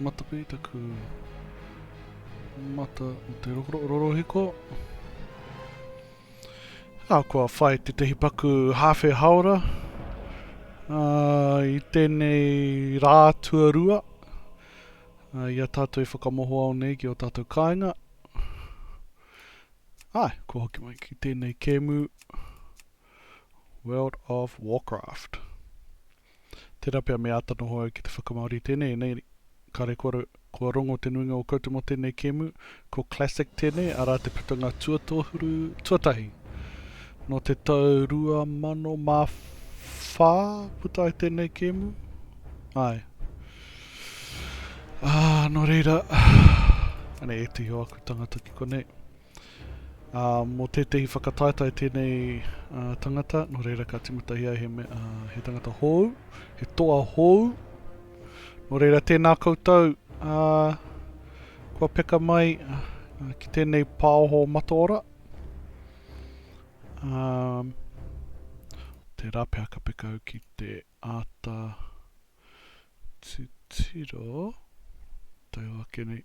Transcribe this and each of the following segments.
Mataku i taku mata o te rorohiko. Nā, kua whai tētahi paku hāwhe haora uh, i tēnei rā tuarua uh, i a tātou i whakamoho ao nei ki o tātou kāinga. Ai, kua hoki mai ki tēnei kēmu World of Warcraft. Tērā pea me āta noho au ki te whakamāori i tēnei, ēnei kare kua, kua rongo te nuinga o koutou mō tēnei kēmu, ko Classic tēnei, arā te putanga tuatohuru, tuatahi nō te tau 2004 puta ai tēnei kēmu, āe. Ā, nō reira, anei ētahi o aku tangata ki konei. Ā, mō tētehi whakataetae tēnei tangata, nō reira ka tīmatahi ai he, he tangata hōu, he toa hōu. Nō reira, tēnā koutou, ā, kua peka mai ā, ki tēnei pāoho mataora. Ā, tērā pea ka peka au ki te āta titiro, tau ake nei.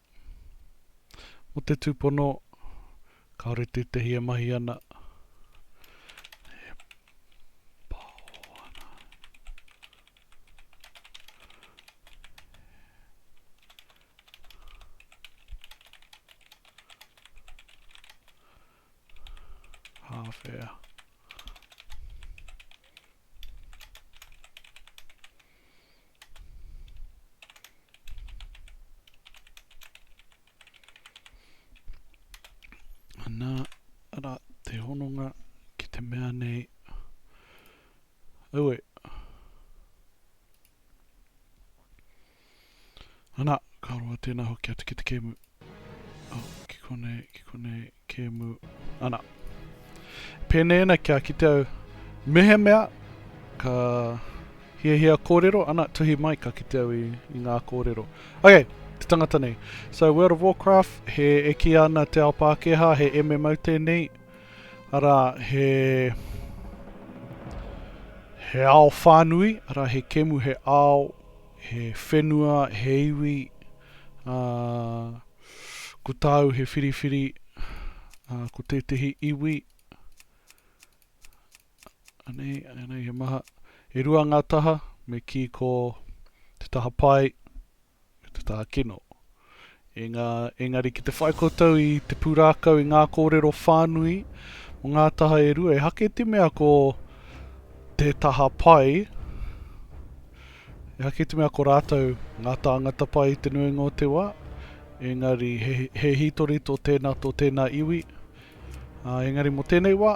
Mō te tūpono, kāore tētehi e mahi ana, e pao ana, e hāwhea. Ana, ara, te hononga ki te mea nei, aue, Ana, ka roa tēnā hoki atu ki te kēmu. Oh, ki konei, ki konei, kēmu. Ana. Pēnei ana kia kite au mehemea ka hiahia kōrero, ana, tuhi mai ka kite au i, i ngā kōrero. Okay, te tangata nei. So World of Warcraft, he e ki ana te ao Pākehā, he MMO tēnei, ara he he ao whānui, ara he kemu, he ao He whenua, he iwi, ā, ko tāu he whiriwhiri, ā, ko tētehi iwi, anei, anei he maha, e rua ngā taha, me kī ko te taha pai, me te taha kino. Engari ki te whai koutou i te pūrākau i ngā kōrero whānui mō ngā taha e rua, ehake te mea ko te taha pai, ehake te mea ko rātou ngā tāngata pai i te nuinga o te wā, engari he hītori tō tēnā, tō tēnā iwi, engari mō tēnei wā,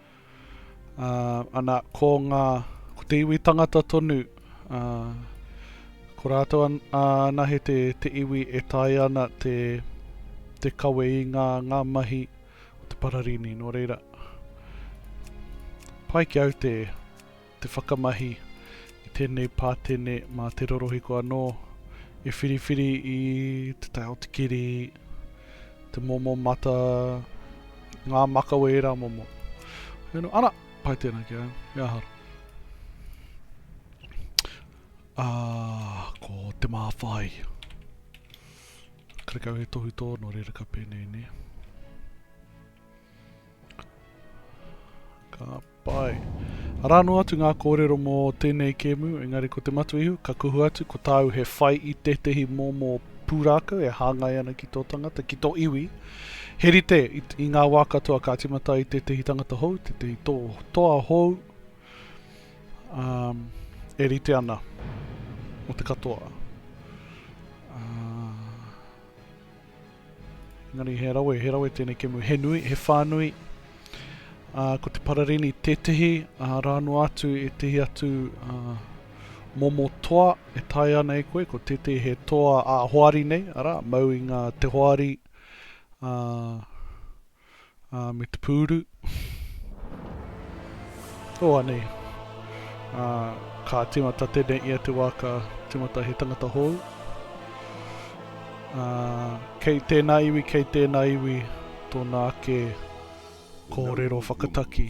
Ā, ana, ko ngā, ko te iwi tangata tonu, ā, ko rātou an, anahe te, te iwi e taea ana te, te kawe i ngā, ngā mahi o te pararini, nō reira, pai ki au te, te whakamahi i tēnei pātene mā te rorohiko anō e whiriwhiri i te tae o te kiri, te momo mata, ngā makawe ērā momo. Hei no, ana, pai tēnā ki au, e ahara. Ā, ko te māwhai. Karekau he tohu tō no reira ka pēnei, nē. Ka Pai. Arā noa atu ngā kōrero mō tēnei kēmu, engari ko Te Matuihu ka kuhu atu ko tāu he whai i tētehi mōmō pūrākau e hāngai ana ki tō tangata, ki tō iwi. He rite, i ngā wā katoa ka tīmata ai tētehi tangata hou, tētehi toa hou, ā, e rite ana mō te katoa. Ā. Engari he rawe, he rawe tēnei kemu, he nui, he whānui. Uh, ko te pararini tētehi, uh, rā noa atu ētehi atu uh, momo toa e tae ana e koe, ko tētehi he toa a hoari nei, ara, mau i ngā te hoari, uh, ā, me te pūru. O, anei. Ā, ka tīmata tēnei ia te wā ka tīmata he tangata hou. Ā, kei tēnā iwi, kei tēnā iwi tōna ake kōrero whakataki.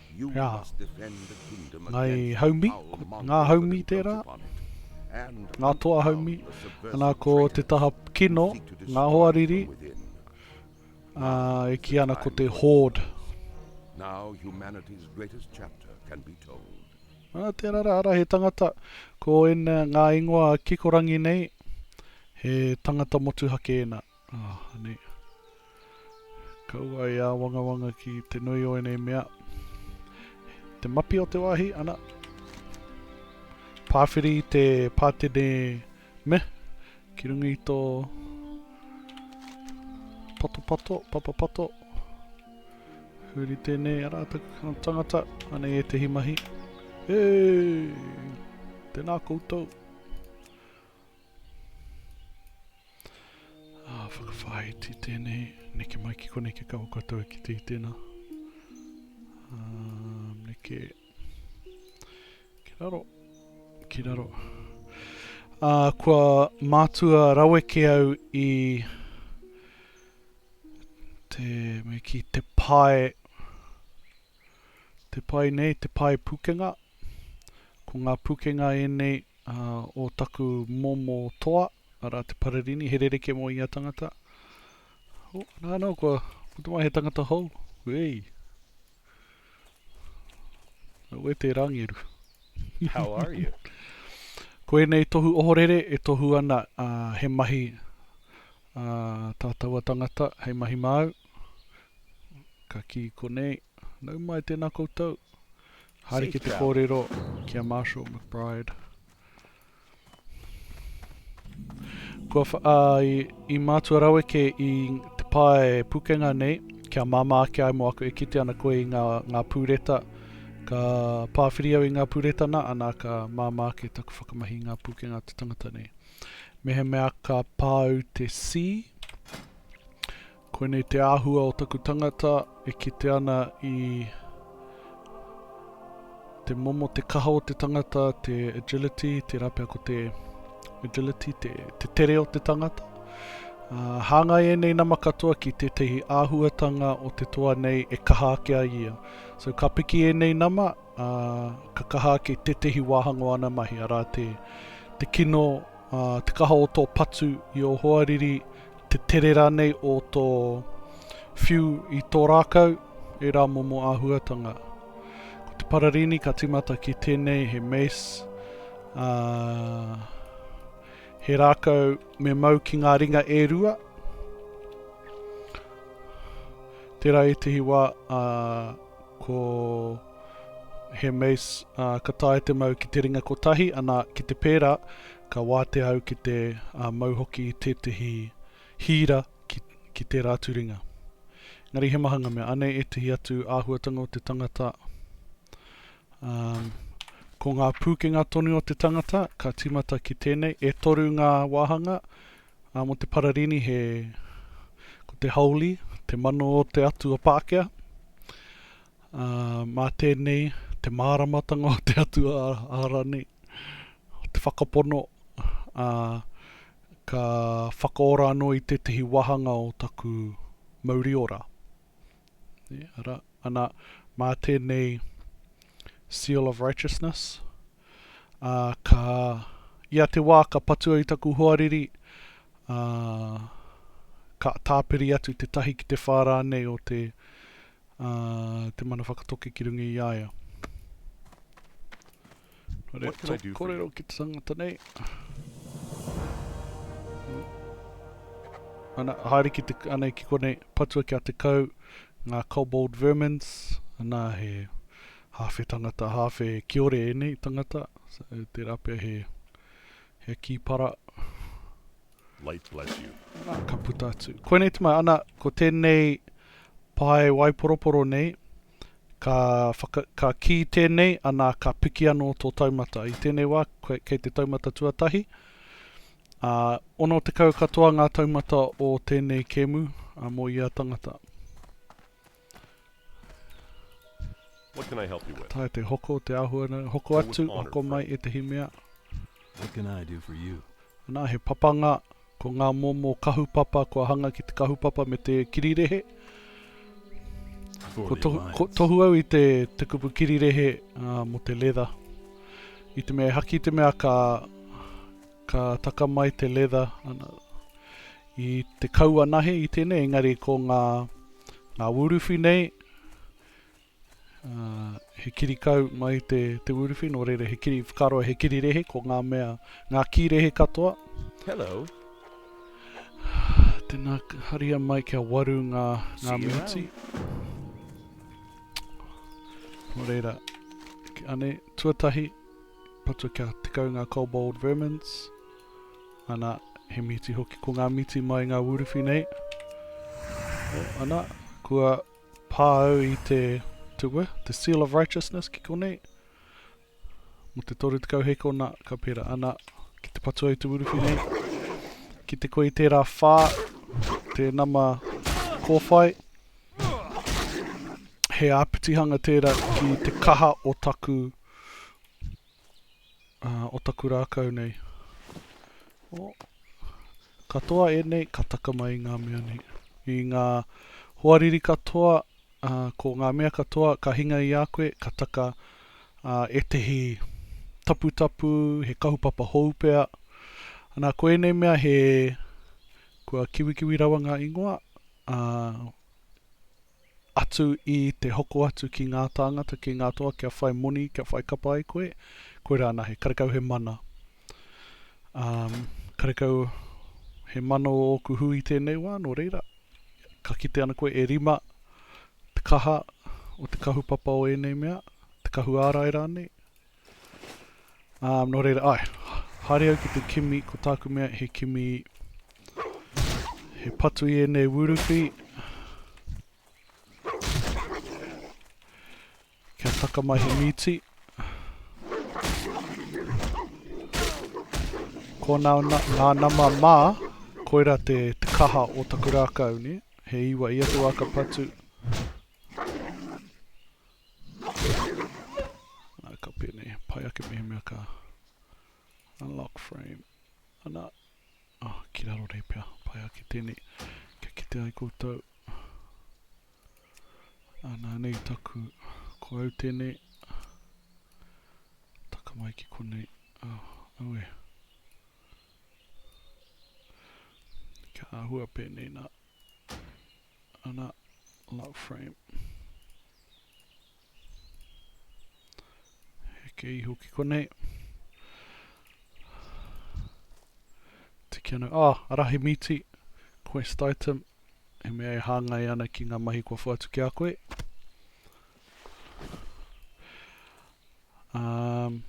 He aha? Ngāi haumi, ngā haumi tērā, ngā toa haumi, ana ko te taha kino, ngā hoa riri, ā, e kī ana ko te horde. Now humanity's greatest chapter can be told. Ā, tērā rā, arā, he tangata, ko ēnā, ngā ingoa kikorangi nei, he tangata motuhake ēnā. Aha nei. Kaua e āwangawanga ki te nui o enei mea. Te mapi o te wāhi, ana. Pāwhiri i te pātene me, ki runga i tō patopato, papapato. Huri tēnei ara taku tangata, anei e tehi mahi. Hei! Tēnā koutou. Ah, whakawhāiti tēnei, neke mai ki konei ke kawa koutou e kite i tēnā. Ah, neke, ki raro, ki raro. Ah, kua mātua rawe ke au i te, me ki te pae, Te pai nei, te pae pukenga. Ko ngā pukenga ēnei o taku momo toa, arā te Pararini, he rerekē mō ia tangata. Oh, nā, nā, no, kua, ko te mai he tangata hou. Wei. Au e te rangeru. How are you? ko ēnei tohu ohorere e tohu ana uh, he mahi uh, tā taua tangata, hei mahi māu. Ka kī konei, Nau mai tēnā koutou. Haere ki te kōrero ki a Marshall McBride. Kua wha, ā, i, i mātua rawe kē i te pae pukenga nei, kia māmā ake ai mō aku e kite ana koe i ngā, ngā pūreta. Ka pāwhiri au i ngā pūreta nā, ana ka māmā ake taku whakamahi i ngā pūkenga o te tangata nei. Mehemea ka pā au te C, Koinei te āhua o taku tangata e kite ana i te momo, te kaha o te tangata, te agility, tērā pea ko te agility, te, te tere o te tangata. Uh, hāngai ēnei nama katoa ki tētahi āhuatanga o te toa nei e kaha ake ai ia. So ka piki ēnei nama, uh, ka kaha ake tētahi wāhanga o ana mahi, arā te, te kino, uh, te kaha o tō patu i o hoariri, te tere rānei o tō whiu i tō rākau, ērā momo āhuatanga. Ko te pararini ka tīmata ki tēnei he mace, ā, he rākau me mau ki ngā ringa e rua, tērā ētehi wā, ā, Ko He Mace, ā, ka taea te mau ki te ringa kotahi, ana, ki te pērā, ka wātea au ki te, ā, mau hoki i tētehi hīra ki, ki tērā atu ringa. Engari he maha ngā mea. Anei ētehi atu āhuatanga o te tangata, ā, ko ngā pūkenga tonu o te tangata, ka tīmata ki tēnei, e toru ngā wāhanga, Ā, mō te Pararini he, ko te Holy, te mano o te Atua Pākehā. Ā, mā tēnei, te māramatanga o te Atua Ara nei, o te Whakapono, ā, ka whakaora anō i tētehi wāhanga o taku mauri ora. Nē, arā, ana, mā tēnei Seal of Righteousness, Ā, ka, ia te wā ka patua i taku hoariri, ā, ka tāpiri atu tētahi ki te whā rānei o te, ā, te mana whakatoki ki runga i a ia. Nō reira tō kōrero ki te tangata nei. Ana, haere ki te, anei ki konei, patua kia 10 ngā kobold vermins, ana he, Hawhe tangata, hawhe kiore enei tangata, tera pea he, he kipara. Light bless you. Ka puta atu. Koinei te mea, ana, ko tenei pae waiporoporo nei, ka whaka, ka ki tenei, ana, ka piki ano to taumata. I tenei wa, kei te taumata tuatahi, a, ono tekau katoa nga taumata o tenei kemu, a, mo ia tangata. What can I help you with? Ka taea te hoko, te āhua nei, hoko atu, hoko mai ētahi mea. What can I do for you? Anā, he papanga, ko ngā momo kahupapa kua hanga ki te kahupapa me te kirirehe. Ko tohu, ko tohu au i te, te kupu kirirehe uh, mo te leather. I te mea e haki te mea ka Ka taka mai te leather ana i te kauanahe i tenei engari ko nga nga wuruwhi nei he kiri kau mai te te wuruwhi no reira he kiri whakaroa he kiri rehe ko nga mea nga ki rehe katoa. Hello. Tena haria mai kia waru nga nga miniti. No reira. Ane tuatahi. Patu kia tekau ngā kobold vermins. Ana, he mīti hoki. Ko ngā mīti mai ngā wūriwhi nei. O, ana, kua pā au i te, te wē, te seal of righteousness ki konei. Mo te toru tekau hekona, ka pērā. Ana, ki te patu ai te wūriwhi nei. Ki te koe i tērā whā, te nama kōwhai. He āpitihanga tērā ki te kaha o taku wūriwhi. uh, o taku rākau nei. O, katoa e nei, ka taka mai ngā mea nei. I ngā hoariri katoa, uh, ko ngā mea katoa, ka hinga i a koe, ka taka uh, e tehi taputapu, he kahupapa hou pea. Ana, ko ēnei mea he, kua kiwikiwi rawa ngā ingoa, uh, atu i te hoko atu ki ngā tāngata, ki ngā toa kia whai moni, kia whai kapa ai koe, koirā anahe. Karekau he mana, ā, karekau he mana o ōku hui i tēnei wā, nō reira, ka kite ana koe e rima te kaha o te kahupapa o ēnei mea, te kahu ārai rānei, Um, nō reira, ai, haere au ki te kimi, ko tāku mea he kimi, he patu i ēnei wuruwhi, kia taka mai he mīti. Ko nā, nā, nā nama mā, koira te, te kaha o taku rākau, ne? he iwa i atu aka patu, Nā, ka pēnei. Pai ake mehemea ka unlock frame. Ana. Oh, ki raro nei pea. Pai ake tēnei. Kia kite ai koutou. Ana nei taku. Ko au tēnei. Taka mai ki konei. Oh, au e. Kia ahua pēnei nā. Ana, lock frame. Heke iho ki konei. Tiki ana, ah, ara he mīti, quest item, he mea e hāngai ana ki ngā mahi kua whātu ki a koe. Um,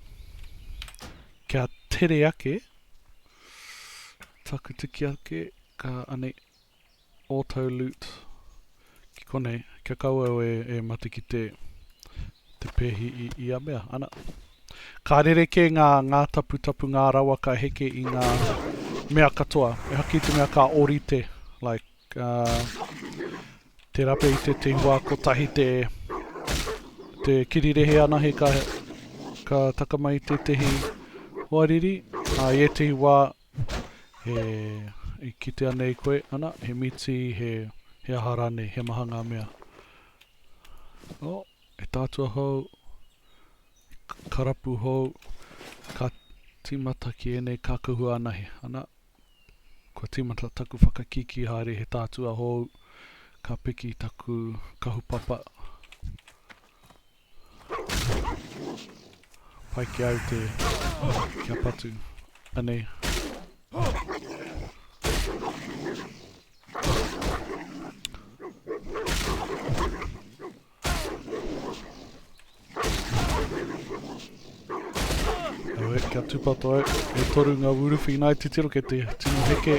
kia tere ake, taku tiki ake, ka anei, Autoloot, ki konei, kia kaua au e matakite te pehi i ia mea, ana. Ka rerekē ngā ngātaputapu, ngā rawa ka heke i ngā mea katoa, ehara ki te mea ka orite, like, te rape i te tihua kotahi te te kirirehe anahe ka ka taka mai i tētehi hoariri, ā, i ētehi wā, E kitea nei koe, ana, he mīti, he, he aha rānei, he maha ngā mea. Oh, he tātua hou, he karapu hou, ka tīmata ki ēnei kākahu anahe, ana, kua tīmata taku whakakīkī haere he tātua hou, ka piki taku kahupapa. Pai ki au te kia patu. Anei. Awe, kia tupato au. E toru ngā wuruwhi nai titiro ke te tino heke.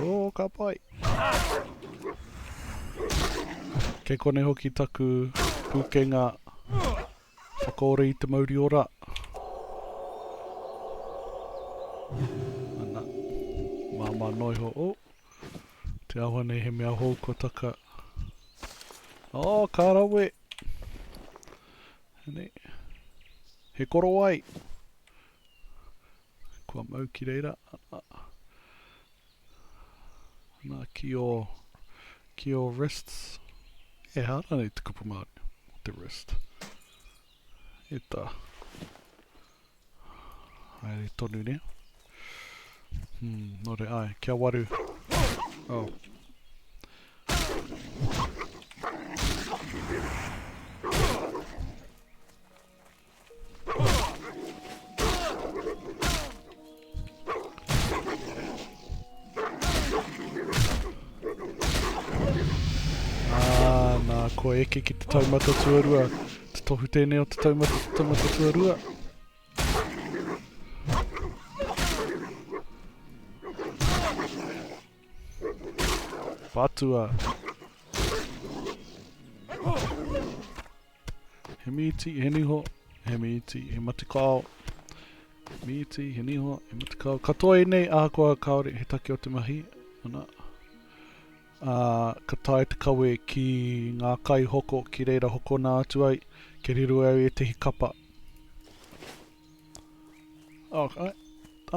Oh, ka pai. Kei kone hoki taku pūkenga whakaore i te mauri ora. Ana, māma noiho, o, oh, te awa nei he mea hou ko taka. O, oh, ka rawe. Hene, he korowai. Kua mau ki reira, ana, ana ki o, ki o wrists, e hā rānei te kupu Māori o te wrist. E tā. Haere tonu rea. Hmm, nō re ai, kia waru. Oh. kua eke ki te taumata tuarua. Te tohu tēnei o te taumata, te taumata tuarua. Patua. He mīti, he niho, he mīti, he matikao. Mīti, he niho, he matikao. Katoa i nei, ahakoa kāore he take o te mahi, ana. Ā, ka tae te kawe ki ngā kai hoko ki reira hokona atu ai, kia riro au i ētehi kapa. Ā,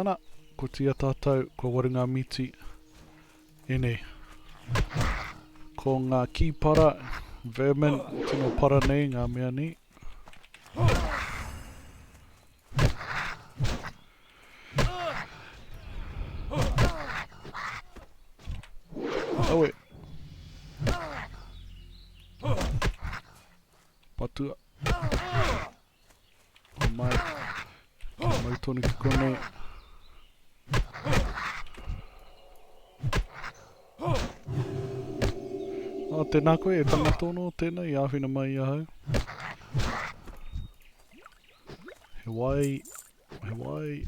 ana, kotia tātou, kua waru ngā mīti. Ēnei. Ko ngā kīpara, vermin, tino para nei ngā mea nei. Awe. Patua. Mai. Mai tonu ki konei. Oh, tēnā koe e tangatono, tēnā i āwhina mai i ahau. He wai, he wai.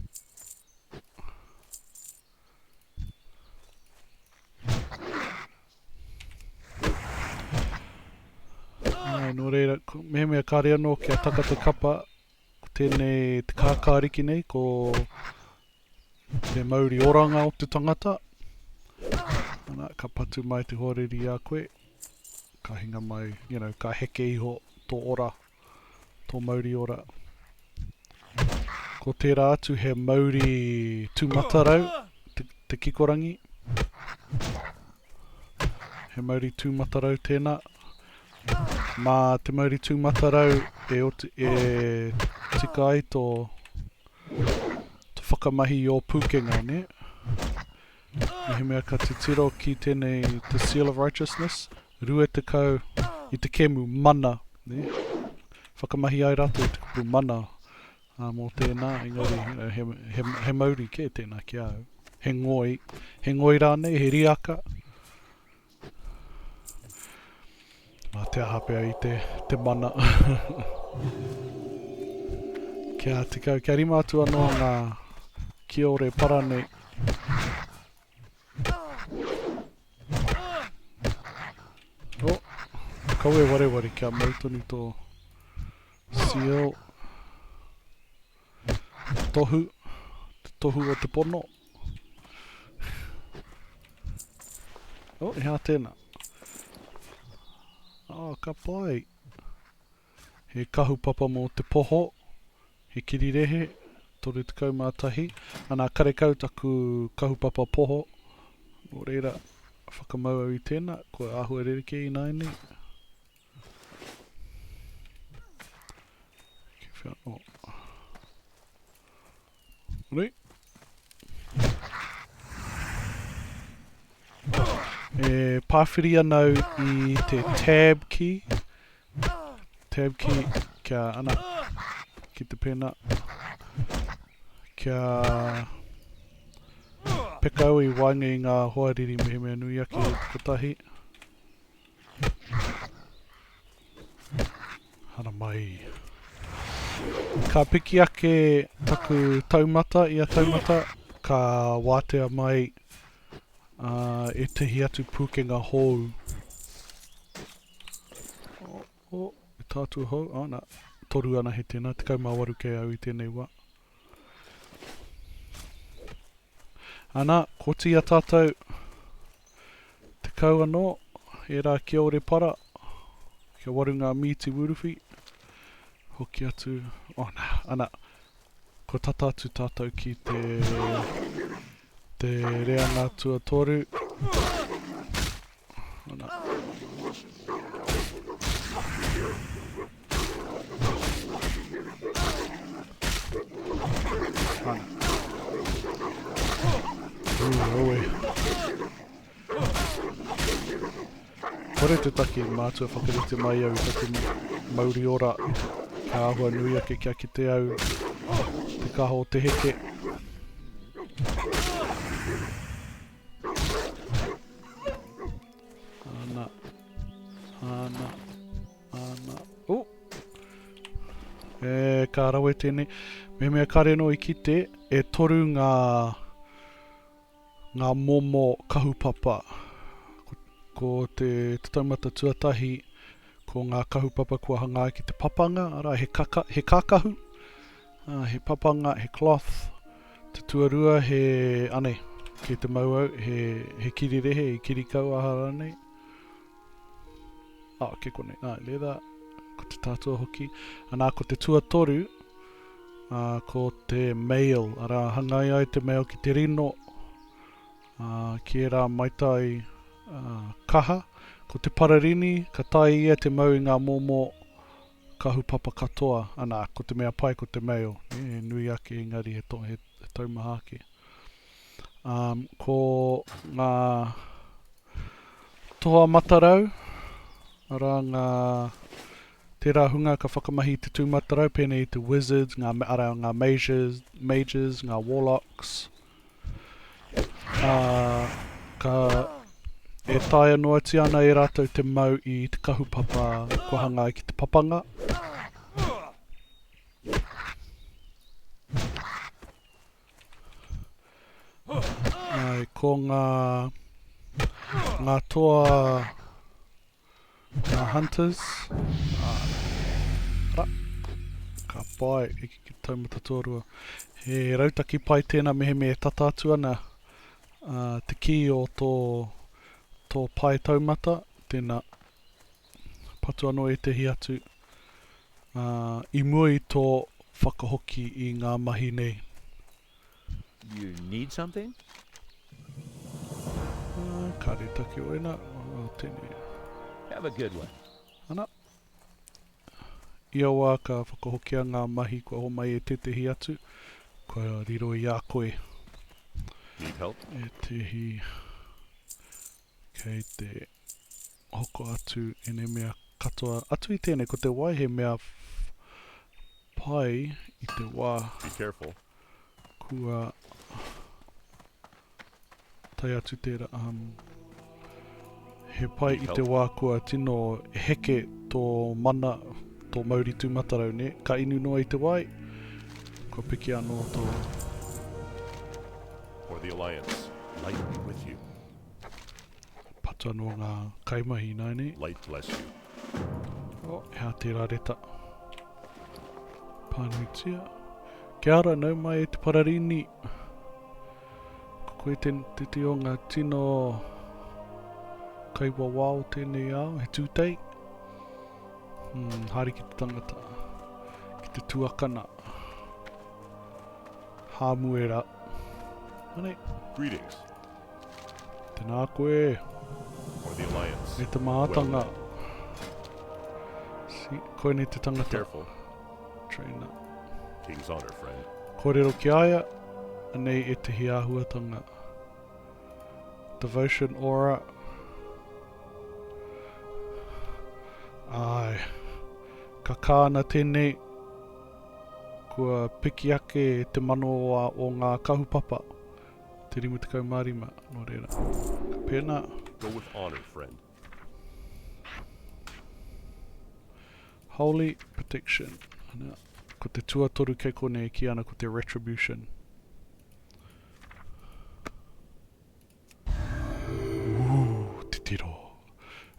Nā, nō reira, mehemea kāre anō kia taka te kapa, ko tēnei te kākāriki nei, ko te mauri oranga o te tangata. Ana, ka patu mai te hoariri a koe, ka hinga mai, you know, ka heke iho tō ora tō mauri ora. Ko tērā atu he mauri tūmatarau, te, te kikorangi. He mauri tūmatarau tēnā. Mā te mauri tūmatarau e, oti, e tika ai tō, tō whakamahi i ō pūkenga, ne? Mehemea ka titiro ki tēnei the seal of righteousness, rua tekau i te kemu mana, nē, whakamahi ai rātou i te kupu mana ā, mō tēnā, engari, you know, he, he, he mauri kē tēnā ki a au. He ngoi, he ngoi rānei, he riaka, Nā te aha pea i te, te mana. Kia tekau, kia rima atu anō ngā kiore para nei. Oh, kawe wareware kia mau tonu tō seal. Tohu, te tohu o te pono. Oh, e hā tēnā. Oh, ka pai. He kahu papa mō te poho, he kirirehe, 31. Anā, karekau taku kahu papa poho. Nō reira, whakamau au i tēnā, kua āhua rerekē ināianei. Re. E pāwhiri anau i te tab key. Tab key kia ana ki te pena. Kia pekau i waenga i ngā hoariri mehemea nui ake kotahi. Hara mai. Ka piki ake taku taumata ia taumata, ka wātea mai uh, ētahi atu pūkenga hou. O, oh, oh, tātua hou, ana, oh, toru ana he tēnā, tekau mā waru kei au i tēnei wā. Ana, kotia tatou, tekau anō, ērā kia Orepara, kia Warunga Mīti Wūruwhi, hoki atu, oh nā, ana, kua tata atu tatou ki te, te reanga tuatoru. Kore te taki mātua whakarite mai au i taku mauri ora, ka ahua nui ake kia kite au te kaho te heke. Ana. Ana. Ana. Oh! E, ka rawe tēnei. Me mea kare no i kite, e toru ngā ngā momo kahupapa. Ko, ko te, te taumata tuatahi, ko ngā kahupapa kua hanga ai ki te papanga, ara, he, kaka, he kākahu, He papanga, he cloth. Te tuarua he, anei, kei te mau au, he, he kirirehe i kirikau aha ranei. Ah, kei konei, ah, leather, ko te tātua hoki. Anā, ko te tuatoru, ah, ko te mail, arā, hangai ai te mail ki te rino, ah, ki ērā maitai, ah, kaha. Ko te pararini, ka tae ia te mau i ngā momo, Kahupapa katoa, ana, ko te mea pai ko te mail, nē, he nui ake engari he to, he, he taumaha ake. Um, ko ngā toha matarau, arā ngā tērā hunga ka whakamahi i te tūmatarau, pēnei i te wizards, ngā, arā, ngā mages, mages, ngā warlocks, Ā, ka, e taea noatia ana e rātou te mau i te kahupapa kua hanga ai ki te papanga. Āe, ko ngā, ngā toa, Ngā Hunters, ā, ara, ka pai, i ki te taumata tuarua. He rautaki pai tēnā mehemea e tata atu ana ā, te kī o tō, tō pae taumata, tēnā, patu anō ētehi atu, ā, i mua i tō whakahoki i ngā mahi nei. You need something? Uh, kare taki o ena, o tēnei. Have a good one. Ana. Ia wā ka whakahokia ngā mahi kua homai e tētehi atu, kua riro i a koe. Need help? E tehi Kei te hoko atu enei mea katoa atu i tenei, ko te wai he mea pai i te wa. Be careful. Kua tae atu tera, um, he pai i te wa kua tino heke to mana, to mauri tumatarau, ne, ka inu noa i te wai, kua piki ano to. For the Alliance, light be with you. Pata no nga kaimahi nai nei. Light bless you. Oh, hea tērā reta. Pānuitia. Kia ara, nau mai e te pararini. Ko koe te, te, te o ngā tino kai wawa o tēnei ao, he tūtei. Hmm, haere ki te tangata, ki te tuakana. Hāmuera. Anei. Greetings. Tēnā koe. Or the alliance. E te mātanga. Si, koe nei te tangata. Careful. Trainer. King's honor, friend. Kōrero ki aia, anei e te hiāhuatanga. Devotion aura. Ai, ka kāna tēnei, kua piki ake te mano o ngā kahupapa. Te 55, nō reira. Ka pēnā. Go with honour, friend. Holy protection. Ana, ko te tuatoru kei konei e ki ana ko te retribution. Ooh, titiro.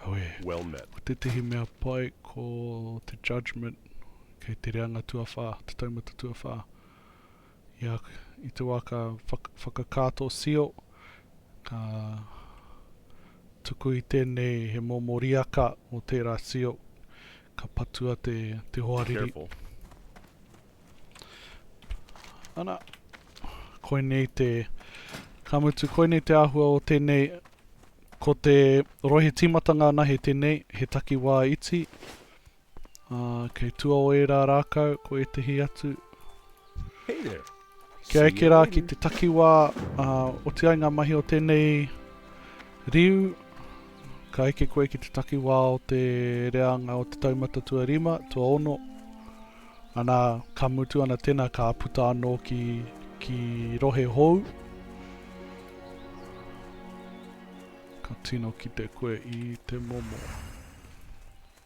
Awe. Well met. Ko tētehi mea pai ko te judgment kei te reanga tuawhā, te taumata tuawhā. I te wā ka whakakato sio, ka tuku i tēnei he momo riaka mō tērā sio, ka patua te hoariri. Ana, koinei te, ka mutu, koinei te āhua o tēnei, ko te rohe tīmatanga anahe tēnei, he takiwā iti, Ā, kei tua o ērā rākau ko ētehi atu. Hey there. Kia eke rā ki te takiwā, ā, oti ai ngā mahi o tēnei riu. Ka eke koe ki te takiwā o te reanga o te taumata tuarima, tuaono. Anā, ka mutu ana tēnā, ka puta anō ki, ki rohe hou. Ka tino kite koe i te momo.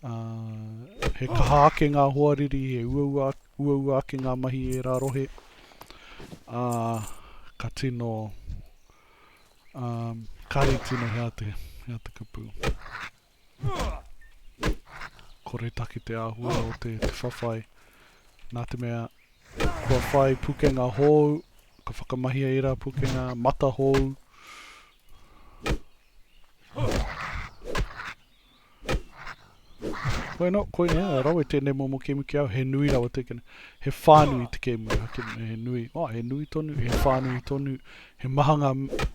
He kaha ake ngā hoariri, he uaua ake ngā mahi i ērā rohe, ā, ka tino, ā, kāre tino he aha te, he aha te kupu. Koretake te āhua o te, te whawhai, nā te mea, kua whai pukenga hōu, ka whakamahia ērā pukenga, mata hōu. Bueno, koinei, a rawe tēnei momo kēmu ki au, he nui rawa te kēmu, he whānui te kēmu, he kēmu, he nui, oh, he nui tonu, he whānui tonu, he maha ngā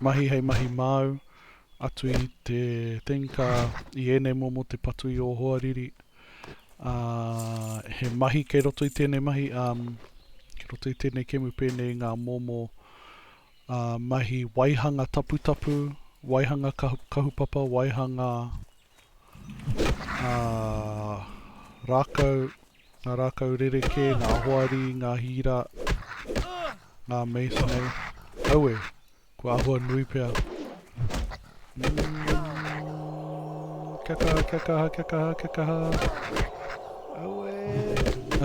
mahi hei mahi māu, atu i te tenka, i ēnei momo te patu i ō hoariri, ā, he mahi kei roto i tēnei mahi, ā, kei roto i tēnei kēmu pēnei i ngā momo, Ā, mahi waihanga taputapu, waihanga kahukahupapa, waihanga, ā, rākau, ngā rākau rerekē, ngā hoari, ngā hīra, ngā mace nei. Aue, kua āhua nui pea. Kia kaha, kia kaha, kia kaha, kia kaha. Aue.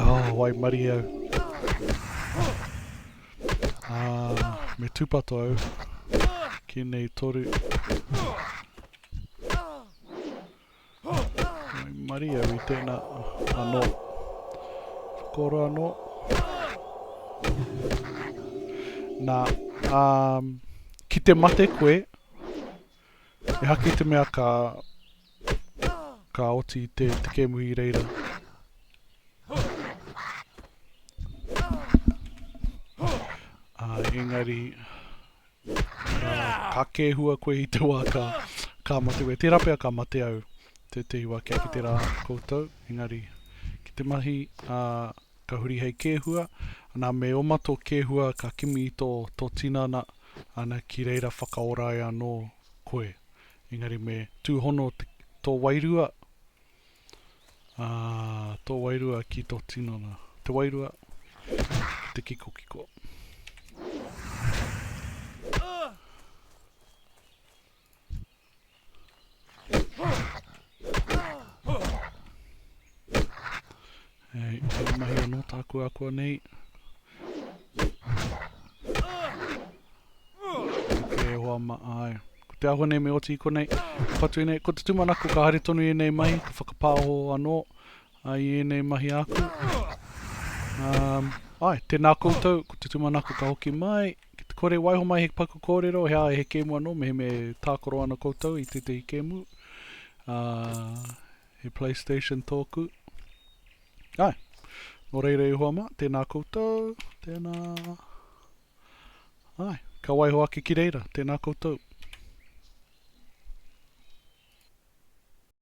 Oh, waimarie au. Ā, me tūpato au ki nei toru. Mai mari au i tēnā anō. Whakoro anō. Nā, ā, ki te mate koe, e haki te mea ka Ka oti te tekemu i reira. Uh, engari, uh, ka kēhua koe i te wā ka, ka mate koe. Tērā pia ka mate au te te iwa kia ki te rā koutou. Engari, ki te mahi, uh, ka huri hei kēhua. Nā, me oma tō kēhua ka kimi i tō, tō tinana, ana ki reira whakaora ai anō koe. Engari me tūhono tō wairua, ā, tō wairua ki tō tinana. Te wairua, te kikokiko. E, tēnei mahi anō tāku akua nei. E hoa ma ai. Ko te ahua nei me oti ko nei. Patu i nei, ko te tumanako ka haere tonu i nei mahi, ka whakapāho anō ai i nei mahi aku. Um, ai, tēnā koutou, ko te tumanako ka hoki mai, ki te kore waiho mai he paku kōrero, he ae he kēmu anō, meheme tākoro ana koutou i tētehi kēmu. Uh, He Playstation tōku. Ai, nō reira e hoa mā, tēnā koutou, tēnā. Ai, ka waiho ake ki reira, tēnā koutou.